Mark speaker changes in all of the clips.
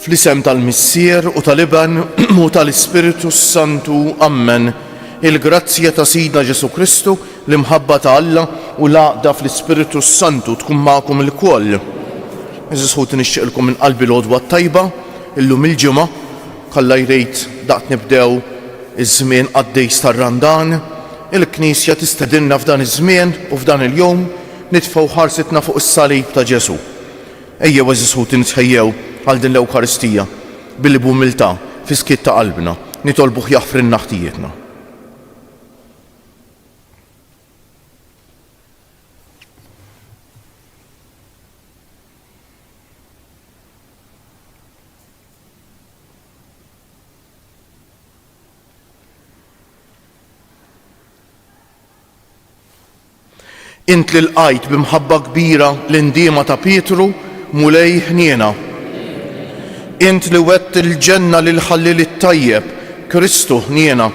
Speaker 1: Fl-isem tal-Missier u tal-Iben u tal-Ispirtu s-Santu, ammen. Il-grazzja ta' Sidna Ġesù Kristu, l-imħabba ta' Alla, u l-għaqda fl-Ispirtu s-Santu tkun magħkom ilkoll. Għeżież ħuti nixtieqilkom minn qalbi l-għodwa t-tajba, illum il-Ġimgħa, bħalla jrid daqt nibdew iż-żmien qaddejs tar-Randan, il-Knisja tistedinna f'dan iż-żmien u f'dan il-jum nitfgħu ħarsitna fuq is-Salib ta' Ġesù. Ejjew għeżież ħuti nitħejjew għal din l-Ewkaristija billi b'umiltà, fi skiet ta' qalbna, nitolbuh jaħfrilna ħtijietna. Int li lqajt bi mħabba kbira l-indiema ta' Pietru, Mulej ħniena. Int li wgħedt il-ġenna lill-ħalliel it-tajjeb, Kristu ħniena.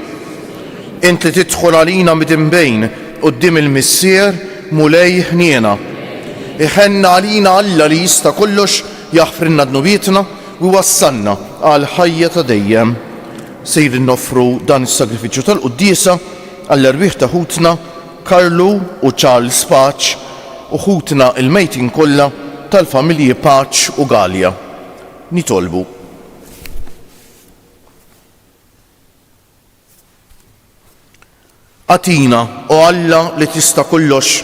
Speaker 1: Int li tidħol għalina midinbejn quddiem il-Missier, Mulej ħniena. Iħenn għalina Alla li jista' kollox jaħfrilna dnubietna u jwassalna għall-ħajja ta' dejjem. Sejrin noffru dan is-sagrifiċċju tal-quddiesa Għall-erwieħ ta' ħutna Karlu u Charles Paċ u ħutna l-mejtin kollha tal-familji Paċ u Galea, nitolbu. Agħtina, O Alla li tista' kollox,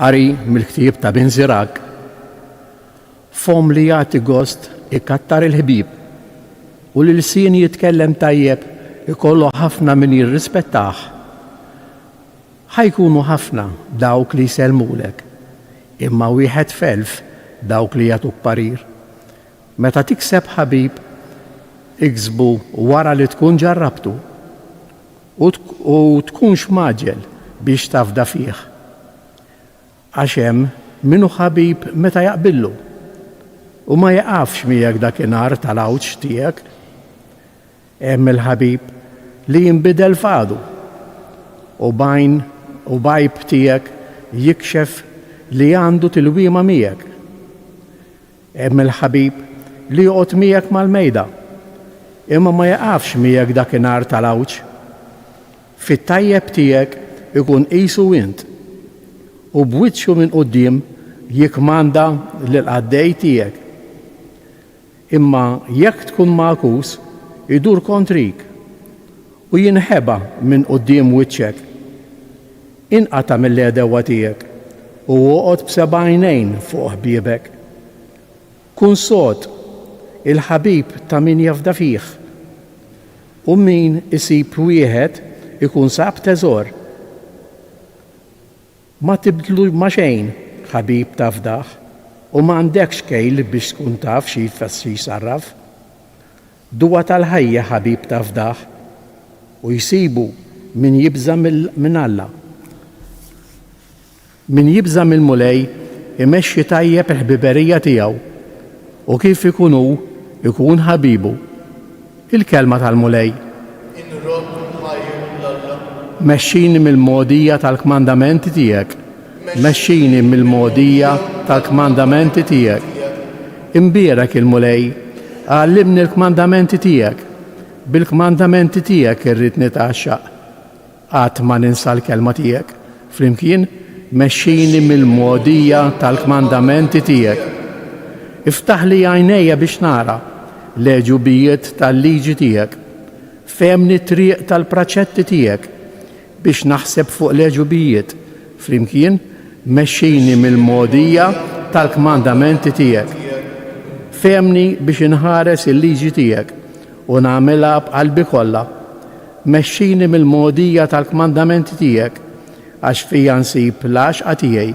Speaker 2: Qari mill-ktieb ta' Bin Zirak, fom li jagħti gost ikattar il-ħbib u li l-sin jitkellem tajjeb ikollu ħafna min jirrispettah. Ħajkunu ħafna dawk li jsellmulek, imma wieħed felf dawk li jagħtuk parir. Meta tikseb ħabib, iksbu wara li tkun ġarrabtu u tkunx mgħaġġel biex tafda fih. Għax hemm min hu ħabib meta jaqbillu, u ma jieqafx miegħek dakinhar tal-għawġ tiegħek. Hemm il-ħabib li jinbidel f'għadu, u b'għajn u b'għajb tiegħek jikxef li għandu tilwima miegħek. Hemm il-ħabib li joqgħod miegħek mal-mejda, imma ma jaqafx miegħek dakinhar tal-għawġ. Fit-tajjeb tiegħek ikun qisu int, u b'wiċċu minn quddiem jikkmanda lill-qaddej tiegħek. Imma jekk tkun magħkus, idur kontrik, u jinħeba minn quddiem wiċċek. Inqata' mill-għedewwa tiegħek, u oqgħod b'seba' għajnejn fuq ħbiebek. Kun sod, il-ħabib ta' min jafda fih, u min isib wieħed ikun sab teżor. Ma tibdlu ma' xejn ħabib tafdah, u m'għandekx kejl biex tkun taf xi jfisser sarraf. Duwa tal-ħajja ħabib ta' fdah. U jsibu min jibża' minn Alla. Min jibża' mill-Mulej imexxi tajjeb il-ħbiberija tiegħu u kif ikun hu jkun ħabibu. Il-Kelma tal-Mulej. Inrodd u nħajr lil Alla. Mexxini mill-mogħdija tal-kmandamenti tiegħek. Mexxini mill-mogħdija tal-kmandamenti tiegħek. Imbierek il-Mulej, għallimni l-kmandamenti tiegħek, bil-kmandamenti tiegħek irrid nitgħaxxaq. Qatt ma ninsa l-kelma tiegħek. Flimkien, Mexxini mill-mogħdija tal-kmandamenti tiegħek. Iftaħli għajnejja biex nara l-għeġubijiet tal-liġi tiegħek. Fehmni t-triq tal-praċetti tiegħek. Biex naħseb fuq l-għeġubijiet flimkien, mexxini mill-mogħdija tal-kmandamenti tiegħek. Fehmni biex inħares il-liġi tiegħek u nagħmilha b'qalbi kollha. Mexxini mill-mogħdija tal-kmandamenti tiegħek, għax fija nsib l-għaxqa tiegħi.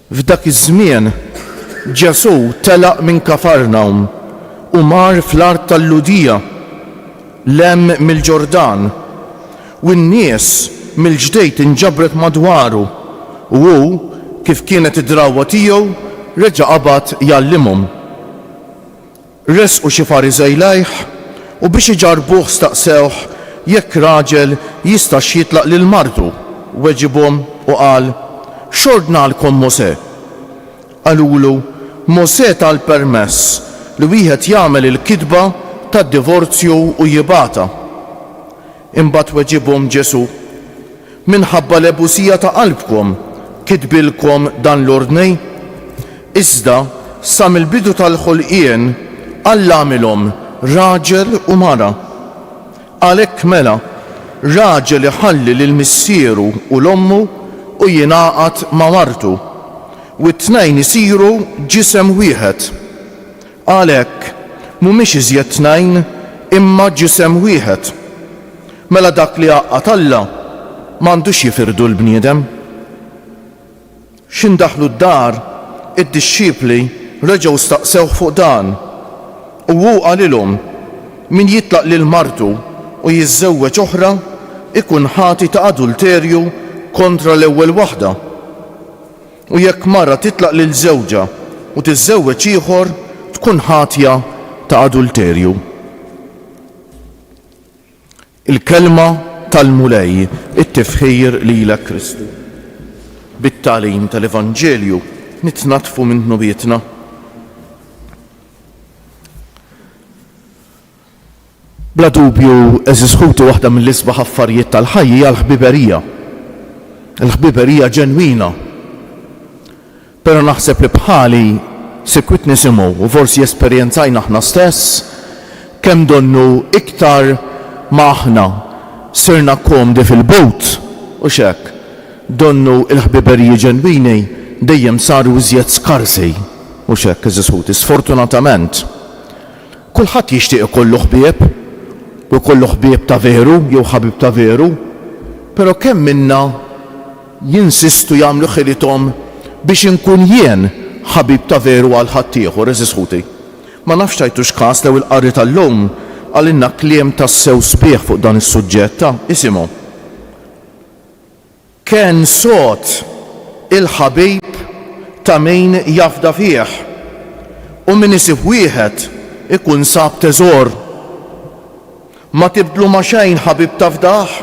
Speaker 1: F'dak iż-żmien, Ġesù telaq minn Kafarnawm u mar fl-art tal-Lhudija, 'l hemm mill-Ġordan, u n-nies mill-ġdejt inġabret madwaru, u hu, kif kienet id-drawwa tiegħu, reġa' qabad jgħallimhom. Ressqu xi Fariżej lejh, u biex iġarrbuh staqsewh jekk raġel jistax jitlaq lil martu. Weġibhom u qal, X'ordnalkom Mosè? Qalulu, Mosè ta l-permess li wieħed jagħmel il-kitba tad-divorzju u jibgħatha. Imbagħad weġibhom Ġesù, Minħabba l-għebusija ta' qalbkom kitbilkom dan l-ordni? Iżda sa mill-bidu tal-ħolqien Alla għamilhom raġel u mara. Għalhekk mela, raġel iħalli lil missieru u 'l ommu u jingħaqad ma' martu, u t-tnejn isiru ġisem wieħed. Għalhekk, mhumiex iżjed tnajn, imma ġisem wieħed. Mela dak li għaqqad Alla, m'għandux jifirdu l-bniedem. X'ħin daħlu d-dar, id-dixxipli reġgħu staqsewh fuq dan, u hu qalilhom, Min jitlaq lil martu u jiżżewweġ oħra, ikun ħati ta' adulterju kontra l-ewwel waħda. U jekk mara titlaq lil żewġha u tiżżewweġ ieħor, tkun ħatja ta' adulterju. Il-Kelma tal-Mulej, it-tifħir lilek Kristu. Bit-tagħlim tal-Evanġelju nitnaddfu minn dnubietna. Bla dubju, għeżież ħuti waħda mill-isbaħ affarijiet tal-ħajja hija l-ħbiberija. Il-ħbiberija ġenwina. Però naħseb li bħali sikwit nisimgħu u forsi esperjenzajna aħna stess kemm donnu iktar ma aħna sirna komdi fil-but, hux hekk? Donnu l-ħbiberiji ġenwini dejjem saru iżjed skarsi, hux hekk għeżież ħuti? Sfortunatament. Kulħadd jixtieq ikollu ħbieb, u jkollu ħbieb ta' veru jew ħabib ta' veru, però kemm minna jinsistu jagħmlu ħilithom biex inkun jien ħabib ta' veru għal ħaddieħor, għeżież ħuti? Ma nafx tajtux kas lew il-qari tal-lum qalilna kliem tassew sbieħ fuq dan is-suġġett, ta' isimgħu. Ken sod il-ħabib ta' min jafda fih, u min isib wieħed ikun sab teżor. Ma tibdlu ma' xejn ħabib tafdah,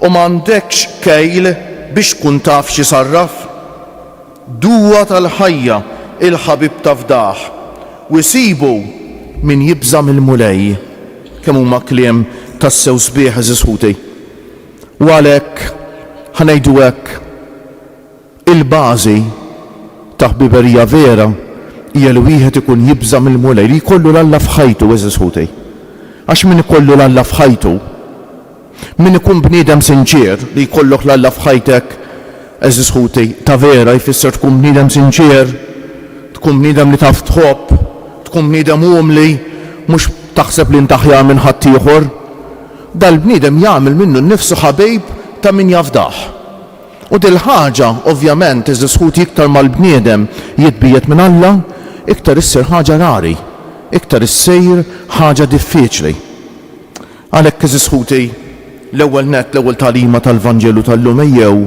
Speaker 1: u m'għandekx kejl biex tkun taf x'isarraf. Duwa tal-ħajja il-ħabib tafdah, u jsibu min jibża' mill-Mulej. Kemm huma kliem tassew sbieħ għeżież ħuti! U għalhekk, ħa ngħidu hekk, il-bażi ta' ħbiberija vera hija li wieħed ikun jibża' mill-Mulej, li jkollu 'l Alla f'ħajtu, għeżież ħuti. Għax min ikollu 'l Alla f'ħajtu, min ikun bniedem sinċier, li jkollok 'l Alla f'ħajtek, għeżież ħuti, ta' vera jfisser tkun bniedem sinċier, tkun bniedem li taf tħobb, tkun bniedem umli, mhux taħseb li int aħjar minn ħaddieħor. Dal-bniedem jagħmel minnu nnifsu ħabib ta' min jafdah. U dil-ħaġa, ovvjament, għeżież ħuti iktar ma l-bniedem jitbiegħed minn Alla, iktar issir ħaġa rari, iktar issir ħaġa diffiċli. Għalhekk, għeżież ħuti, l-ewwel nett, l-ewwel tagħlima tal-Vanġelu tal-lum ejjew,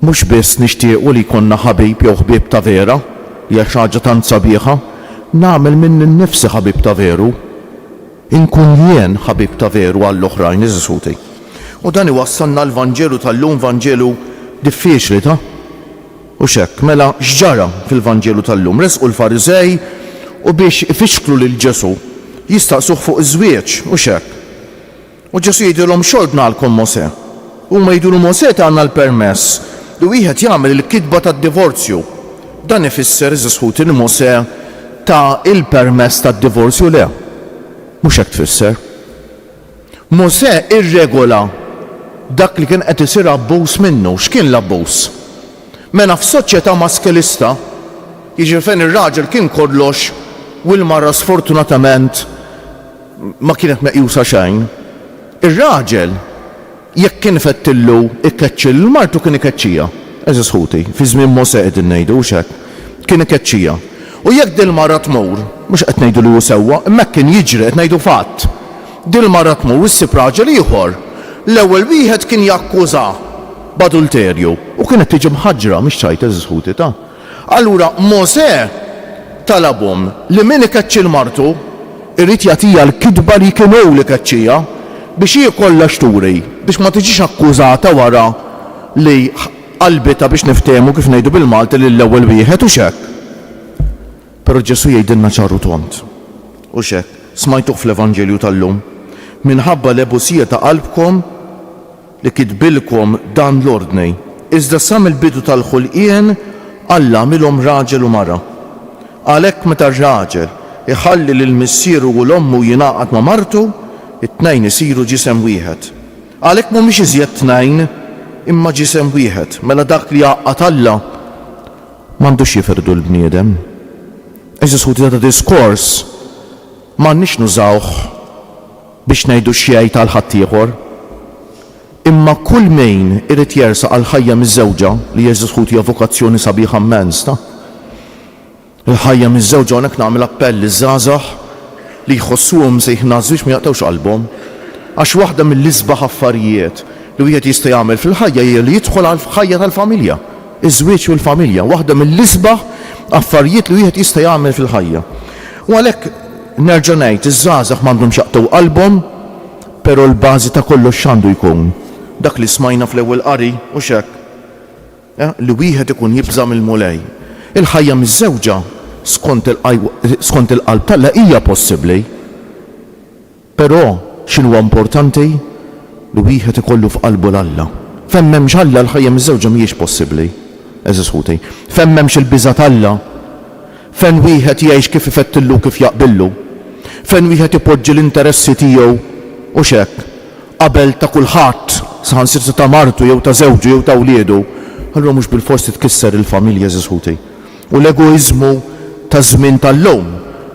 Speaker 1: Mhux biss nixtiequ li jkollna ħabib jew ħbieb ta' vera, hija xi ħaġa tant sabiħa, nagħmel minni nnifsi ħabib ta' veru, inkun jien ħabib ta' veru għall-oħrajn, għeżież ħuti. U dan iwassalna għall-Vanġelu tal-lum, Vanġelu diffiċli, ta? Hux hekk? Mela, x'ġara fil-Vanġelu tal-lum? Resqu l-Fariżej u biex ifixklu lil Ġesù, jistaqsuh fuq iż-żwieġ, hux hekk? U Ġesù jgħidilhom, X'għodd ngħallkom Mosè? U huma jgħidulu, Mosè tana l-permess li wieħed jagħmel il-kitba tad-divorzju. Dan ifisser, għeżież ħuti, li Mosè ta l-permess tad-divorzju? Le, mhux hekk tfisser. Mosè irregola dak li kien qed isir abbuż minnu. X'kien l-abbuż? Mela f'soċjetà maskilista, jiġifieri fejn ir-raġel kien kollox u l-mara sfortunatament, ma kienet meqjusa xejn. Ir-raġel jekk kien ifettillu jkeċċi lil martu kien ikeċċiha, għeżież ħuti, fi żmien Mosè qegħdin ngħidu, hux hekk? Kien ikeċċiha. U jekk dil-mara tmur, mhux qed ngħidu li hu sewwa, imma hekk kien jiġri, qed ngħidu fatt. Dil-mara tmur u ssib raġel ieħor, l-ewwel wieħed kien jakkużha b'adulterju u kienet tiġi mħaġġra, mhix ċajt għeżież ħuti, ta? Allura Mosè talabhom li min ikeċċi 'l martu, irid jagħtiha l-kitba li kien hu li keċċieha, biex hi jkollha x'turi, biex ma tiġix akkużata wara li qalbitha biex niftehmu kif ngħidu bil-Malti lill-ewwel wieħed, hux hekk? Però Ġesù jgħidilna ċar u tond, hux hekk? Smajtuh fl-Evanġelju tal-lum, Minħabba l-għebusija ta' qalbkom, li kitbilkom dan l-ordni, iżda sa mill-bidu tal-ħulqien Alla għamilhom raġel u mara. Għalhekk meta r-raġel iħalli lil missieru u 'l ommu u jingħaqad ma' martu, it-tnejn isiru ġisem wieħed. Għalhekk m'humiex iżjed tnejn, imma ġisem wieħed. Mela dak li jgħaqqad Alla, m'għandux jifirdu l-bniedem. Għeżież ħuti dan id-diskors m'għandniex nużawh. Biex ngħidu x'jgħid għal ħaddieħor. Imma kull mejn irid jersaq għal ħajja miżżewġa li hija Ġesù Ħuti hija vokazzjoni sabiħa mmens ta. Il-ħajja miżżewġa hawnhekk nagħmel appell liż-żgħażagħ li jħossuhom msejħin għaż-żwieġ ma jaqtgħux qalbhom. Għax waħda mill-isbaħ affarijiet li wieħed jista' jagħmel fil-ħajja hija li jidħol għal ħajja tal-familja. Iż-żwieġ u l-familja, waħda mill-isbaħ affarijiet li wieħed jista' jagħmel fil-ħajja. U għalhekk, nerġa' ngħid, iż-żgħażagħ m'għandhomx jaqtgħu qalbhom, però l-bażi ta' kollox x'għandu jkun? Dak li smajna fl-ewwel qari, hux hekk? Li wieħed ikun jibża' mill-Mulej. Il-ħajja miżżewġa skont il-qalb t'Alla hija possibbli. Però x'inhuwa importanti? Li wieħed ikollu f'qalbu 'l Alla. Fejn m'hemmx Alla, l-ħajja miżżewġa mhijiex possibbli, għeżież ħuti. Fejn m'hemmx il-biża' t'Alla, fejn wieħed jgħix kif ifettillu u kif jaqbillu, fejn wieħed ipoġġi l-interessi tiegħu, hux hekk, qabel ta' kulħadd, saħansitra ta' martu jew ta' żewġu jew ta' wliedu, allura mhux bilfors titkisser il-familja, għeżież ħuti. u l-egoiżmu taż-żmien tal-lum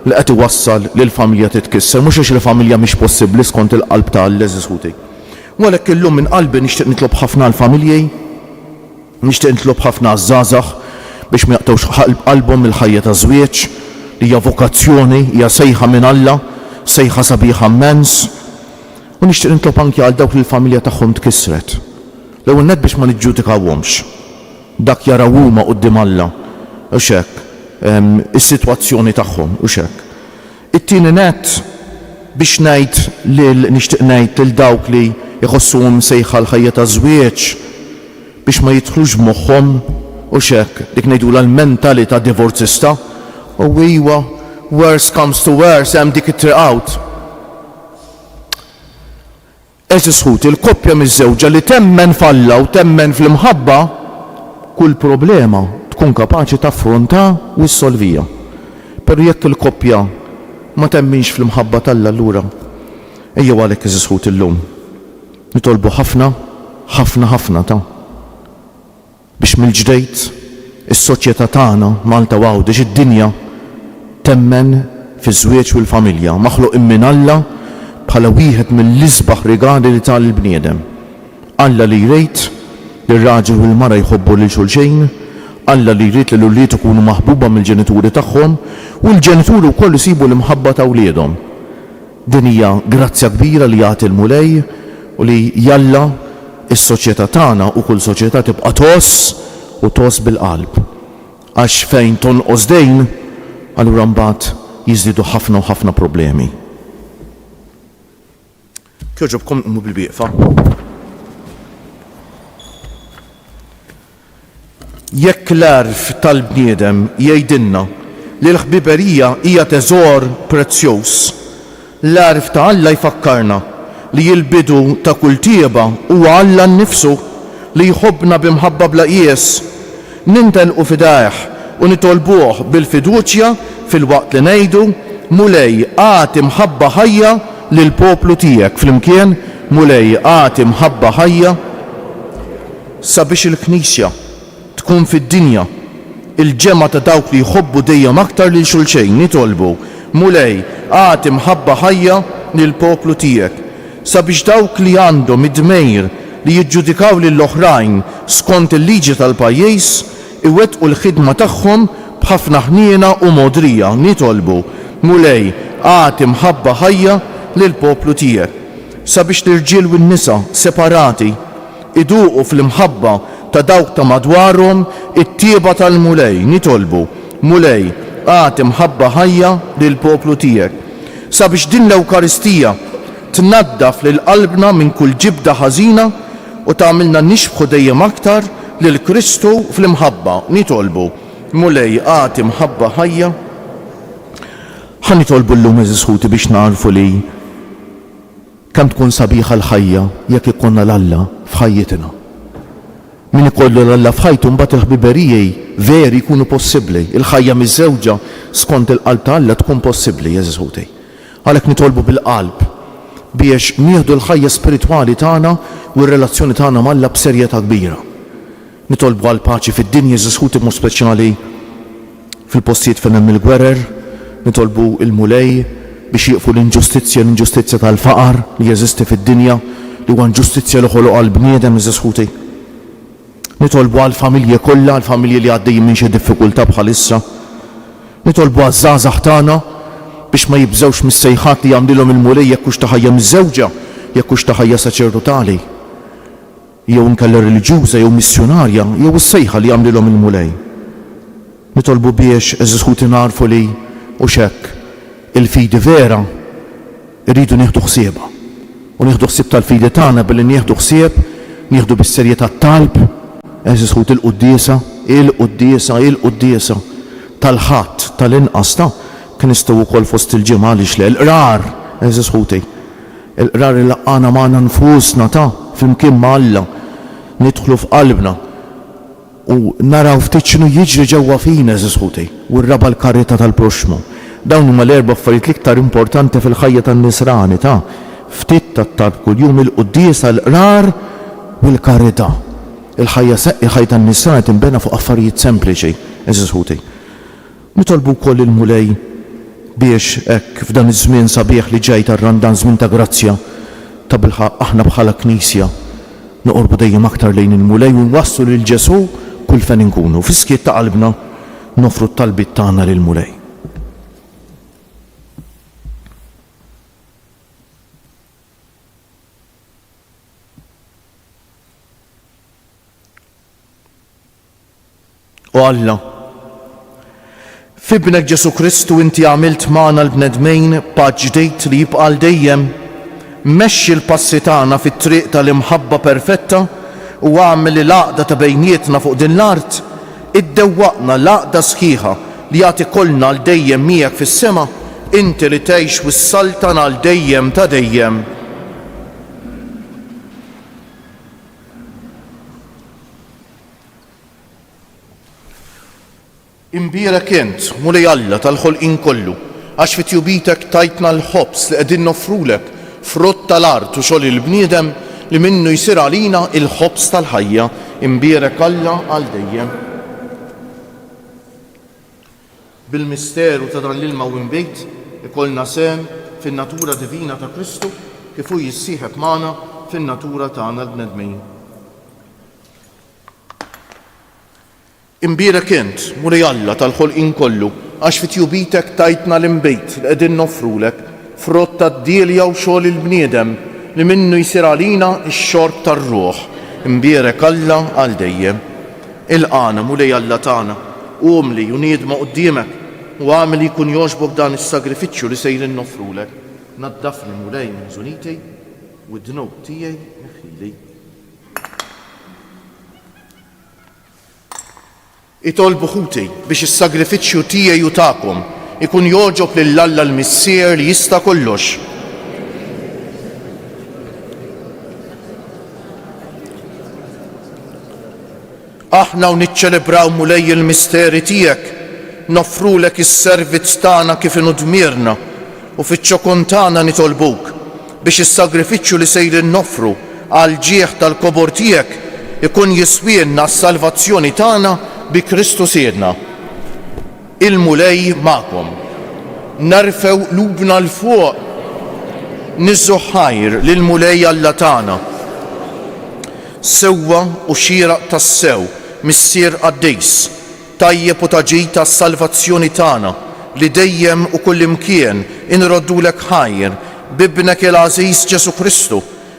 Speaker 1: li qed iwassal li l-familja titkisser, mhux għax il-familja mhix possibbli skont il-qalb ta' l-għeżież ħuti. U għalhekk illum minn qalbi nixtieq nitlob ħafna għall-familji, nixtieq nitlob ħafna għaż-żgħażagħ biex ma jaqtgħux qalbhom mill-ħajja taż-żwieġ li hija vokazzjoni, hija sejħa minn Alla, sejħa sabiħa mmens. U nixtieq nitlob anki għal dawk li l-familja tagħhom tkissret, l-ewwel nett biex ma niġġudikawhomx, Dak jaraw huma quddiem Alla, hux hekk, is-sitwazzjoni tagħhom, hux hekk? It-tieni nett, biex ngħid lil, nixtieq ngħid lil dawk li jħossuhom msejħa l-ħajja taż-żwieġ, biex ma jidħlux b'moħħhom, hux hekk, dik ngħidulha l-mentalità divorzista, O iwa, worse comes to worse, hemm dik it-triq out. Għeżież ħuti, il-koppja miżżewġa li temmen f'Alla u temmen fl-imħabba, kull problema tkun kapaċi taffrontha u ssolvija. Però jekk il-koppja ma temminx fl-imħabba t'Alla allura ejjew għalhekk għeżież ħuti llum nitolbu ħafna, ħafna, ħafna ta'. biex mill-ġdejt is-soċjetà tagħna, Malta u Għawdex, id-dinja, temmen fiż-żwieġ u l-familja, maħluqin minn Alla bħala wieħed mill-isbaħ rigali li ta lill-bniedem. Alla li jrid li r-raġel u l-mara jħobbu lil xulxejn, Alla li jrid li l-ulied ikunu maħbuba mill-ġenituri tagħhom u l-ġenituri wkoll isibu l-imħabba ta' wliedhom. Din hija grazzja kbira li jagħti l-Mulej u li jalla s-soċjetà tagħna u kull soċjetà tibqa' tgħożż u tgħożż bil-qalb. Għax fejn tonqos dejn, allura mbagħad jiżdiedu ħafna u ħafna problemi. Jogħġobkom qumu bil-wieqfa. Jekk l-għerf tal-bniedem jgħidilna li l-ħbiberija hija teżor prezzjuż, l-għerf ta' Alla jfakkarna li l-bidu ta' kull tjieba huwa Alla nnifsu, li jħobbna bi mħabba bla qies. Nintenqu f'idajh u nitolbuh bil-fiduċja filwaqt li ngħidu, Mulej, agħti mħabba ħajja lill-poplu tiegħek. Flimkien, Mulej, agħti mħabba ħajja. Sabiex il-Knisja tkun fid-dinja, il-ġemgħa ta' dawk li jħobbu dejjem aktar lil xulxejn, nitolbu, Mulej, agħti mħabba ħajja lill-poplu tiegħek, sabiex dawk li għandhom id-dmejr li jiġġudikaw lil oħrajn skont il-liġi tal-pajjiż, iwettqu l-ħidma tagħhom b'ħafna ħniena u mogħdrija, nitolbu, Mulej, agħti mħabba ħajja lill-poplu tiegħek, sabiex l-irġiel u n-nisa separati, Iduqu fl-imħabba ta' dawk ta' madwarhom it-tjieba tal-Mulej. Nitolbu, Mulej, agħti mħabba ħajja lill-poplu tiegħek, sabiex din l-Ewkaristija tnaddaf lil qalbna minn kull ġibda ħażina u tagħmilna nixbħu dejjem aktar lil Kristu fl-imħabba. Nitolbu, Mulej, agħti mħabba ħajja. Ħa nitolbu llum, għeżież ħuti, biex nagħrfu li. Kemm tkun sabiħa l-ħajja jekk ikollna 'l Alla f'ħajjitna. Min ikollu 'l Alla f'ħajtu mbagħad il-ħbiberiji veri jkunu possibbli. Il-ħajja miżżewġa skont il-qalb ta' Alla tkun possibbli, għeżież ħuti. Għalhekk nitolbu bil-qalb biex nieħdu l-ħajja spiritwali tagħna u r-relazzjoni tagħna m'Alla b'serjetà kbira. Nitolbu għal paċi fid-dinja iżda sħut imod speċjali fil-postijiet fejn hemm il-gwerer. Nitolbu il-Mulej biex jieqfu l-inġustizzja, l-inġustizzja tal-faqar li jeżisti fid-dinja li huwa inġustizzja li ħoloqha l-bniedem iżda sħuti. Nitolbu għall-familji kollha, għall-familji li għaddejjin minn xi diffikultà bħalissa. Nitolbu għaż-żgħażagħ tagħna biex ma jibżgħux mis-sejħat li jagħmlilhom il-Mulej jekk hux ta' ħajja miżżewġa, jekk hux ta' ħajja saċerdotali. jew inkella reliġjuża jew missjunarja jew is-sejħa li għamlilhom il-Mulej. Nitolbu biex, għeżież ħuti nagħrfu li, hux hekk, il-fidi vera rridu nieħdu ħsiebha. U nieħdu ħsieb tal-fidi tagħna billi nieħdu ħsieb, nieħdu bis-serjetà t-talb, għeżież ħuti l-quddiesa, il-quddiesa, il-quddiesa tal-Ħadd, tal-inqas ta', Knistgħu wkoll fost il-Ġimgħa għaliex le, il-Qrar, għeżież ħuti. Il-Qrar ilaqqagħna magħna nfusna ta' flimkien ma' Alla, nidħlu f'qalbna u naraw ftit x'inhu jiġri ġewwa fina, għeżież ħuti, u r-raba' l-karità tal-proxxmu. Dawn huma l-erba' affarijiet l-iktar importanti fil-ħajja tan-nisrani ta' ftit tat-talb kuljum, il-quddiesa, l-Qrar u l-karità. Il-ħajja tan-nisrani tinbena fuq affarijiet sempliċi, għeżież ħuti. Nitolbu wkoll lill-Mulej biex hekk f'dan iż-żmien sabiħ li ġej tar-Randan, żmien ta' grazzja, tabilħaqq aħna bħala Knisja noqorbu dejjem aktar lejn il-Mulej u nwasslu lil Ġesù kull fejn inkunu. Fis-skiet ta' qalbna noffru t-talbiet tagħna lill-Mulej. O Alla, f'Ibnek Ġesù Kristu inti għamilt magħna l-bnedmin patt ġdid li jibqa' għal dejjem. Mexxi l-passi tagħna fit-triq ta' l-imħabba perfetta u agħmel li l-għaqda ta' bejnietna fuq din l-art iddewwaqna l-għaqda sħiħa li għad ikollna għal dejjem miegħek fis-sema, inti li tgħix u ssaltan għal dejjem ta' dejjem. Imbierek int, Mulej Alla tal-ħolqien kollu, għax fi tjubitek tajtna l-ħobż li qegħdin noffrulek, frott tal-art u xogħol il-bniedem, li minnu jsir għalina il-ħobż tal-ħajja. Imbierek Alla għal dejjem. Bil-misteru ta' dan l-ilma u imbejt, ikollna sehem fin-natura divina ta' Kristu kif hu jissieħeb magħna fin-natura tagħna l-bnedmin. Imbierek int, Mulej Alla tal-ħolqien kollu, għax fi tjubitek tajtna l-inbid li qegħdin noffrulek, frott tad-dielja u xogħol il-bniedem, li minnu jsir għalina x-xorb tar-ruħ. Imbierek Alla għal dejjem. Ilqagħna, Mulej Alla tagħna, umli u niedma quddiemek, u agħmel li jkun jogħġbok dan is-sagrifiċċju li sejrin noffrulek. Naddafni, Mulej, minn żuniti, u d-dnub tiegħi neħħili. Itolbu ħuti biex is-sagrifiċċju tiegħi u tagħkom ikun jogħġob lil Alla l-Missier li jista' kollox. Aħna u niċċelebraw Mulej il-misteri tiegħek, noffrulek is-servizz tagħna kif inhu dmirna u fiċ-ċokon tagħna nitolbuk biex is-sagrifiċċju li sejrin noffru għall-ġieħ tal-kobor tiegħek ikun jiswielna s-salvazzjoni tagħna bi Kristu Sidna. Il-Mulej magħkom. Nerfgħu qlubna 'l fuq niżżu ħajr lill-Mulej Alla tagħna, sewwa u xieraq tassew, Missier qaddis, tajjeb u ta' ġid għas-salvazzjoni tagħna, li dejjem u kullimkien inroddulek ħajr, b'Ibnek il-għażiż Ġesù Kristu,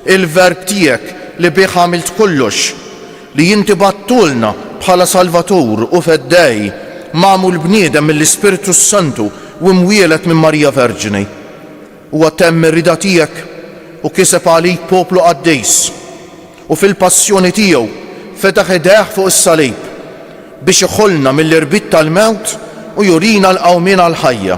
Speaker 1: Il-Verb tiegħek li bih għamilt kollox, li inti bgħattulna bħala Salvatur u Feddej, magħmul bniedem mill-Ispirtu s-Santu u mwieled minn Marija Verġni. Huwa temm ir-rieda tiegħek u kiseb għalik poplu qaddis. U fil-Passjoni tiegħu fetaħ idejh fuq is-salib biex iħollna mill-irbit tal-mewt u jurina l-qawmien għall-ħajja.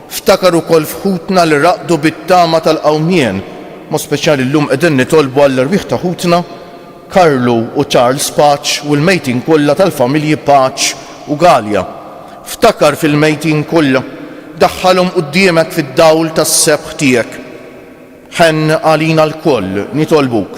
Speaker 1: Ftakar ukoll f'ħutna li raqdu bit-tama tal-qawmien, b'mod speċjali llum qegħdin nitolbu għall-erwieħ ta' ħutna Karlu u Charles Paċ u l-mejtin kollha tal-familji Paċ u Galea. Ftakar fil-mejtin kollha. Daħħalhom quddiemek fid-dawl tas-sebħ tiegħek. Ħenn għalina lkoll, nitolbuk.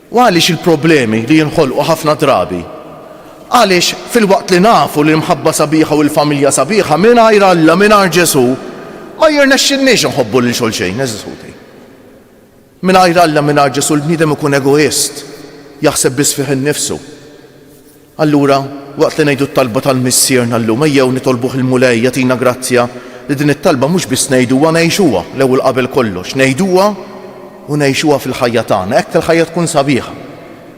Speaker 1: U għaliex il-problemi li jinħolqu ħafna drabi? Għaliex, filwaqt li nafu li l-mħabba sabiħa u l-familja sabiħa, mingħajr Alla, mingħajr Ġesù, ma jirnexxilniex inħobbu lil xulxejn, għeżież ħuti. Mingħajr Alla, mingħajr Ġesù, il-bniedem ikun egoist, jaħseb biss fih innifsu. Allura, waqt li ngħidu t-talba tal-Missierna llum, ejjew nitolbuh il-Mulej jagħtina grazzja li din it-talba mhux biss ngħiduha, ngħixuha l-ewwel qabel kollox. Ngħiduha u ngħixuha fil-ħajja tagħna. Hekk il-ħajja tkun sabiħa.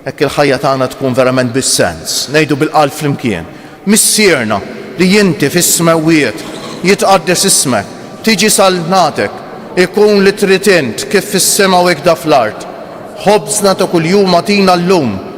Speaker 1: Hekk il-ħajja tagħna tkun verament bi sens. Ngħidu bil-qalb flimkien, Missierna, li inti fis-smewwiet, jitqaddes ismek, tiġi saltnatek, ikun li trid int, kif fis-sema u ikda fl-art. Ħobżna ta' kuljum agħtina llum.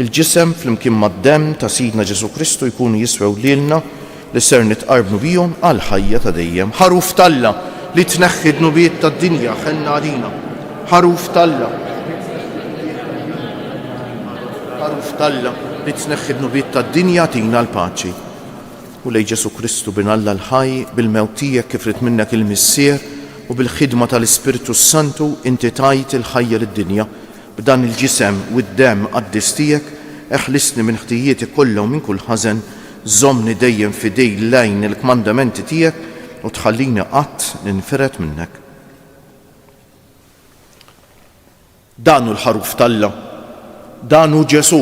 Speaker 1: Il-ġisem flimkien mad-demm ta' Sidna Ġesù Kristu jkunu jiswew lilna li ser nitqarrbu bihom għall-ħajja ta' dejjem. Ħaruf t'Alla, li tneħħi d-dnubiet tad-dinja, ħenna għalina. Ħaruf t'Alla, Ħaruf t'Alla, li tneħħi d-dnubiet tad-dinja, agħtina l-paċi. Mulej Ġesù Kristu, Bin Alla l-ħaj, bil-mewt tiegħek kif ried minnek il-Missier u bil-ħidma tal-Ispirtu s-Santu, inti tajt il-ħajja lid-dinja. B'dan il-ġisem u d-demm qaddis tiegħek, eħlisni minn ħtijieti kollha u minn kull ħażen, żommni dejjem f'idej l-għajn il-kmandamenti tiegħek u tħallini qatt ninfired minnek. Dan hu l-Ħaruf t'Alla. Dan hu Ġesù,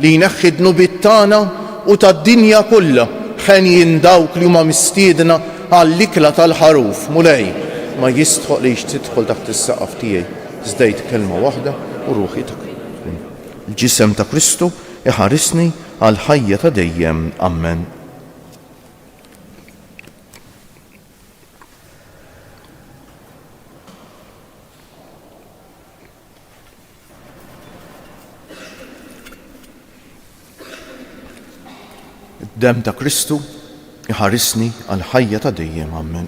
Speaker 1: li jneħħi d-dnubiet tagħna u tad-dinja kollha. Henjin dawk li huma mistiedna għall-ikla tal-Ħaruf. Mulej, ma jistħoqlix tidħol taħt is-saqaf tiegħi. Żdejt kelma waħda u ruħi ta' tkun. Il-Ġisem ta' Kristu iħarisni għall-ħajja ta' dejjem. Ammen. Dem ta' Kristu, iħarisni għal ħajja ta' dejjem, ammen.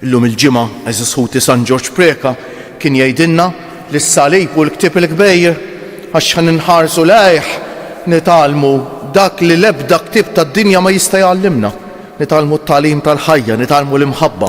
Speaker 1: Illum il-ġimgħa eżis ħuti San Ġorġ Preka kien jgħidilna li s-salib u l-ktieb il-kbejr għax ħan inħarsu lejh nitalmu dak li l-ebda ktieb tad-dinja ma jista' jgħallimna. Nitalmu t-tagħlim tal-ħajja, nitalmu l-imħabba,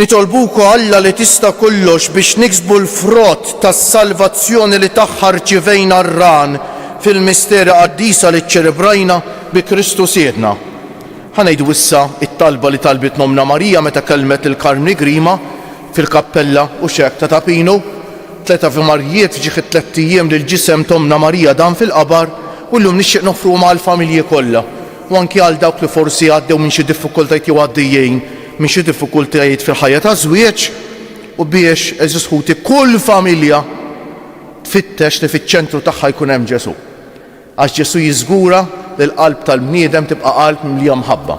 Speaker 1: Nitolbu wkoll l-Għali Tista' Kollox biex niksbu l-frott tas-salvazzjoni li tagħha rċivejna r-ran fil-misteri qaddisa li ċċelebrajna bi Kristu Sidna. Ħa ngħidu issa t-talba li talbitna Ommna Marija meta kellmet lil Karmni Grima fil-kappella u xehk ta' Ta' Pinu, Tliet Avi Marijiet ġieħ it-tlett ijiem li l-ġisem t'Ommna Marija dam fil-qabar u llum nixtieq noffruhom għall-familji kollha. u anki għal dawk li forsi għaddew minn xi diffikultajiet jew għaddejjin minn xi diffikultajiet fil-ħajja taż-żwieġ, u biex, għeżież ħuti, kull familja tfittex li fiċ-ċentru tagħha jkun hemm Ġesù. Għax Ġesù jiżgura li l-qalb tal-bniedem tibqa' qalb mimlija mħabba.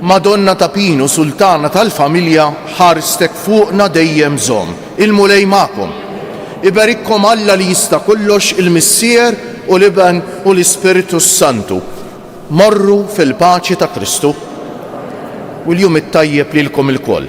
Speaker 1: Madonna ta' Pinu Sultana tal-Familja ħarstek fuqna dejjem zomm il-Mulej magħkom. Iberikkom Alla li jista' kollox il-Missier u l-Iben u l-Ispirtu s-Santu. Morru fil-paċi ta' Kristu u l-jum it-tajjeb lilkom ilkoll.